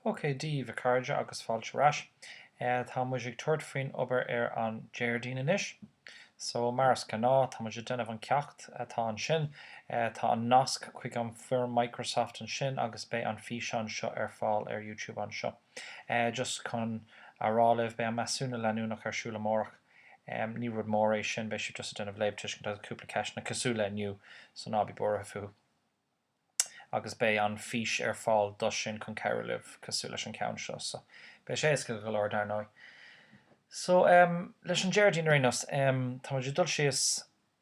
Dia daoibh, a chairde, agus fáilte ar ais. Tá muid ag tabhairt faoin obair ar an Déardaoin anois. So, mar is gnáth, tá muid ag déanamh an ceacht atá ansin. Tá an nasc chuig an foirm Microsoft ansin agus beidh an físeán seo ar fáil ar YouTube anseo. Just chun a rá libh, beidh an measúnú leanúnach ar siúl amárach. Ní rud mór é sin, beidh sibh just ag déanamh léamhthuisceana agus cúpla ceisteanna cosúil le inniu, so ná bí buartha fúthu. Agus beidh an fís ar fáil dó sin chun cabhrú libh, cosúil leis an cheann seo, so beidh sé éasca go leor dar ndóigh. So, leis an Déardaoin ar aon nós, tá muid ag dul síos.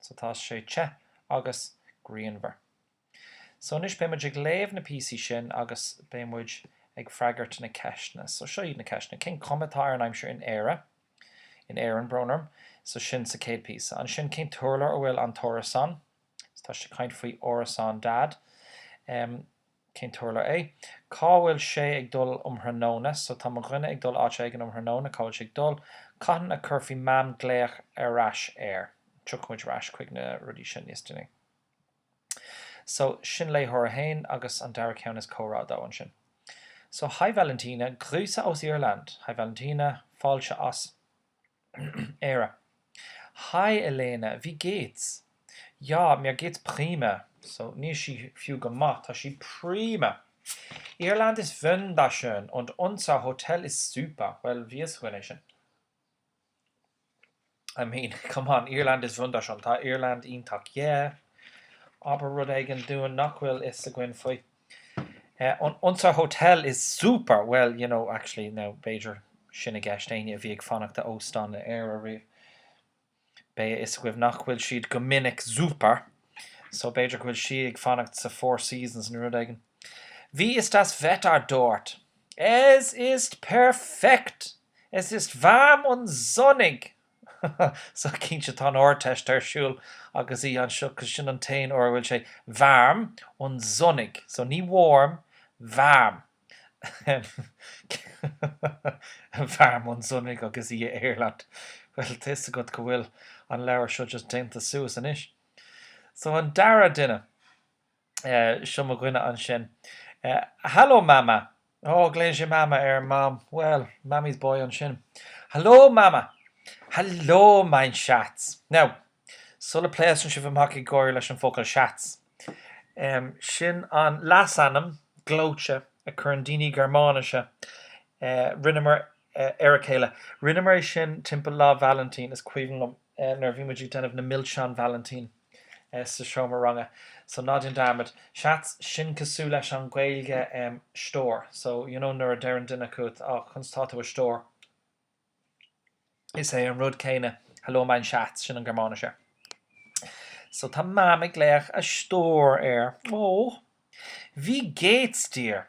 So tá sé te agus grianmhar. So anois beidh muid ag léamh na píosaí sin agus beidh muid ag freagairt na ceisteanna. So seo iad na ceisteanna. Cén chuma atá ar an aimsir in Éire, in Éirinn, brón orm, so sin sa chéad píosa. Ansin cén t-urlár a bhfuil an t-árasán? So tá siad ag caint faoi árasán Dad. Cén t-urlár é? Cá bhfuil sé ag dul um thráthnóna? So tá mo dhuine ag dul áit éigin um thráthnóna, cá bhfuil sé ag dul? Cathain a chuirfidh Mam glaoch ar ais air? Tiocfaidh muid ar ais chuig na rudaí sin níos déanaí. So sin comhrá a haon agus an dara ceann is comhrá a dó ansin. So, Hi Valentina, Grüße aus Irland! Hi Valentina, fáilte as. Éire. Hi Lena, wie geht's. Ja, mir geht's prima, so, níl sí fiú go maith, tá sí prima! Irland ist wunderschön und unser Hotel ist super, bhuel, bhí a fhios againn é sin. I mean, come on, Irland ist wunderschön, tá Irland iontach, yeah, abair rud éigin dúinn nach bhfuil fhios againn faoi. Unser Hotel ist super! Well, you know, actually, now, b'fhéidir sin an cheist éinne a bhí ag fanacht in óstán in Éire ariamh. Beidh a fhios agaibh nach bhfuil siad go minic super, so b'fhéidir go bhfuil sí ag fanacht sa Four Seasons nó rud éigin. Wie ist das Wetter dort? Es ist perfekt! Es ist warm und sonnig! So, cinnte, tá an Ardteist ar siúl agus í anseo 'cause sin an t-aon uair a bhfuil sé warm und sonnig. So, ní warm, warm. Ahem. Warm und sonnig agus í in Irland. Bhuel, tá 'fhios agat go bhfuil an leabhar seo just déanta suas anois. So, an dara duine. Seo mo dhuine ansin. Hallo Mama! Oh, glaonn sé Mama ar Mom. Bhuel, Mammy's boy ansin. Hallo Mama! Hallo mein Schatz! Now, sula bpléascann sibh amach ag gáire leis an bhfocal Schatz, sin an leasainm gleoite a chuireann daoine Gearmáinise ar a chéile. Rinneamar é sin timpeall Lá Valentín, is cuimhin liom. nuair a bhí muid ag déanamh na milseán Valentín sa seomra ranga so ná déan dearmad Schatz, sin cosúil leis an Gaeilge stór so you know nuair a deireann duine chugat á conas tá tú a stór is é an rud céanna hello mein schatz sin an Gearmáinis air so tá Mam ag glaoch a stór air, oh wie geht's dir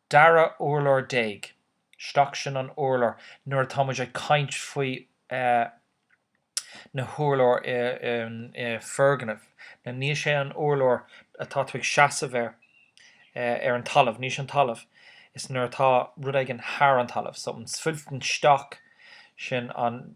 Dara urlár déag. Stock sin an urlár nuair atá muid ag caint faoi na hurláir i bhfoirgneamh. Nó níl sé an urlár atá tú ag seasamh air ar an talamh. Níl sé an talamh. Is nuair atá rud éigin thar an talamh. So im zwölften Stock sin an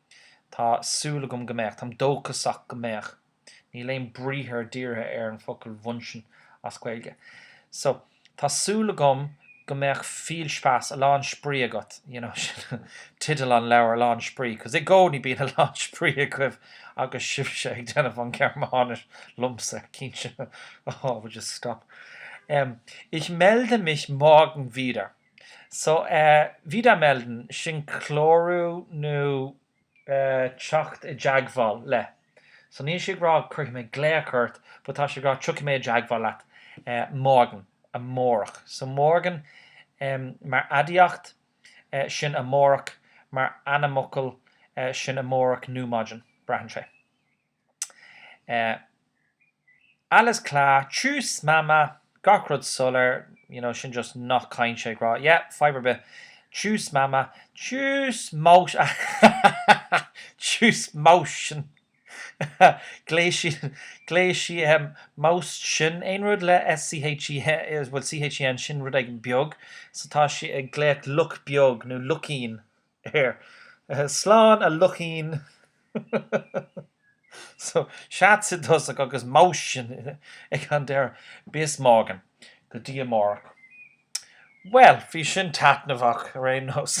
Tá súil agam go mbeadh. Táim dóchasach go mbeadh. Níl aon briathar dírithe ar an focal wünschen as Gaeilge. So, tá súil agam go mbeadh viel Spaß, a lán spraoi agat, you know, sin tideal an leabhair, a lán spraoi, cos i gcónaí bíonn a lán spraoi agaibh agus sibhse ag déanamh an Ghearmáinis liomsa, cinnte. Oh, I will just stop. Em, ich melde mich morgen wieder. So, eh, wiedermelden, sin clárú nó, eh, teacht i dteagmháil le. So níl sí ag rá cuirfidh mé glaoch ort but tá sí ag rá tiocfaidh mé i dteagmháil leat, eh, morgen, amárach. So morgen, em, mar aidiacht, eh, sin amárach, mar ainmfhocal, eh, sin amárach nó maidin, braitheann sé. Eh. Alles klar, tschüss Mama, gach rud soiléir, you know, sin just nath cainte ag rá, yeah, fadhb ar bith, tschüss Mama, tschüss Maus, tschüss Mäuschen, glaoigh sí, glaoigh sí, em, Mäuschen, aon rud le S-c-h-e-n, bhuel, c-h-e-n, sin rud éigin beag, so tá sí ag glaoch luch beag nó luichín. air. Slán a luichín so. Schatz i dtosach agus Mäuschen ag an deireadh. Bis morgen. Go dtí amárach. Bhuel, bhí sin taitneamhach ar aon nós.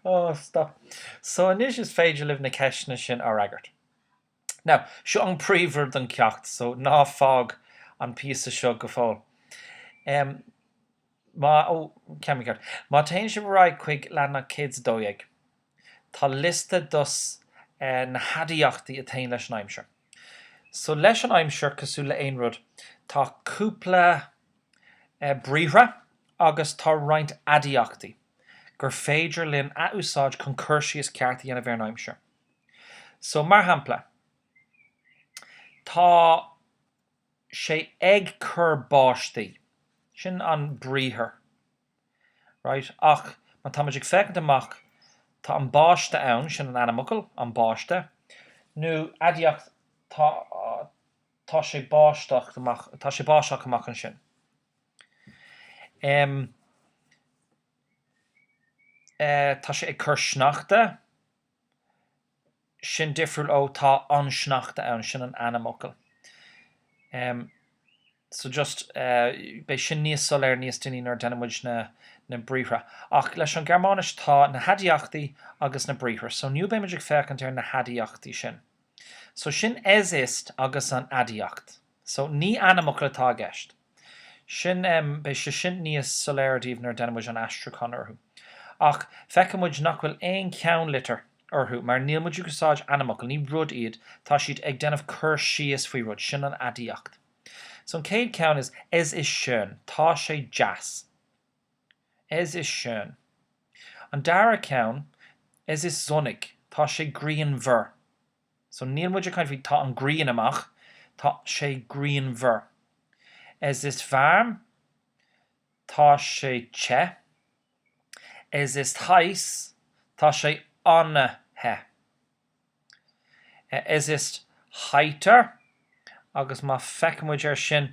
Oh, stop. So anois is féidir libh na ceisteanna sin a fhreagairt. Now, seo an príomhrud den cheacht so ná fág an píosa seo go fóill. Em. Má, ó, ceann mín ceart. Má téann sibh ar aghaidh chuig leathanach 112, tá liosta dos na haidiachtaí a téann leis an aimsir. So leis an aimsir, cosúil le aon rud, tá cúpla briathra agus tá roinnt aidiachtaí gur féidir linn a úsáid chun cur síos ceart a dhéanamh ar an aimsir. So mar shampla, tá. sé ag cur báistí. Sin an briathar. Right, ach má táimid ag féachaint amach, tá an báiste ann, sin an ainmfhocal, an báiste, nó aidiacht, tá, tá sé báisteach amach, tá sé báisteach amach ansin. Um. Eh, tá sé ag cur sneachta. sin difriúil ó tá an sneachta ann, sin an ainmfhocal. em. so just eh. beidh sin níos soiléir níos déanaí nuair a déanann muid na na briathra. Ach leis an Ghearmáinis tá na haidiachtaí agus na briathra. So inniu beimid ag féachaint ar na haidiachtaí sin. So tá sin es ist agus an aidiacht. So ní ainmfhocal atá i gceist. Sin, beidh sé sin níos soiléire daoibh nuair a déanann muid an aistriúchán orthu. Ach feicimid nach bhfuil aon cheannlitir orthu mar níl muid ag úsáid ainmfhocal, ní rud iad, tá siad ag déanamh cur síos faoi rud, sin an aidiacht. So an chéad ceann is es ist schön, tá sé deas. Es ist schön. An dara ceann, es ist sonnig, tá sé grianmhar. So níl muid ag caint faoi tá an ghrian amach, tá sé grianmhar. Es ist warm, tá sé te. Es ist heiss, tá sé an-the. Es ist heiter, agus má feiceann muid ar sin,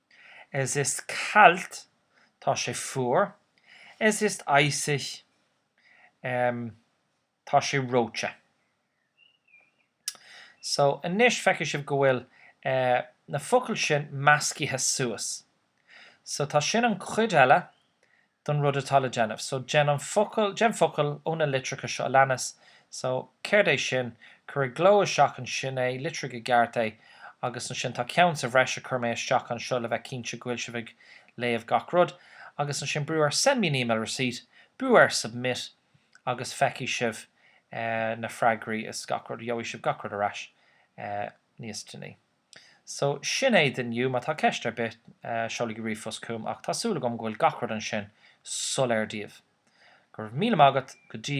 Es ist kalt, tá sé fuar. Es ist eisig, em, tá sé reoite. So, anois, feicfidh sibh go bhfuil, eh, na focail sin meascaithe suas. So, tá sin an chuid eile don rud atá le déanamh. So déan an focal, déan focal ó na litreacha seo a leanas. So, céard é sin? Cuir i gcló isteach ansin é, litrigh i gceart é. Agus ansin tá ceann sa bhreis a chuir mé isteach anseo le bheith cinnte go bhfuil sibh ag léamh gach rud. Agus ansin brú ar Send me an email receipt, brú ar Submit agus feicfidh sibh na freagraí is gach rud, gheobhaidh sibh gach rud ar ais níos déanaí. So, sin é d'inniu. Má tá ceist ar bith, seolaigí ríomhphost chugam, ach tá súil agam go bhfuil gach rud ansin soiléir daoibh. Go raibh míle maith agat go dtí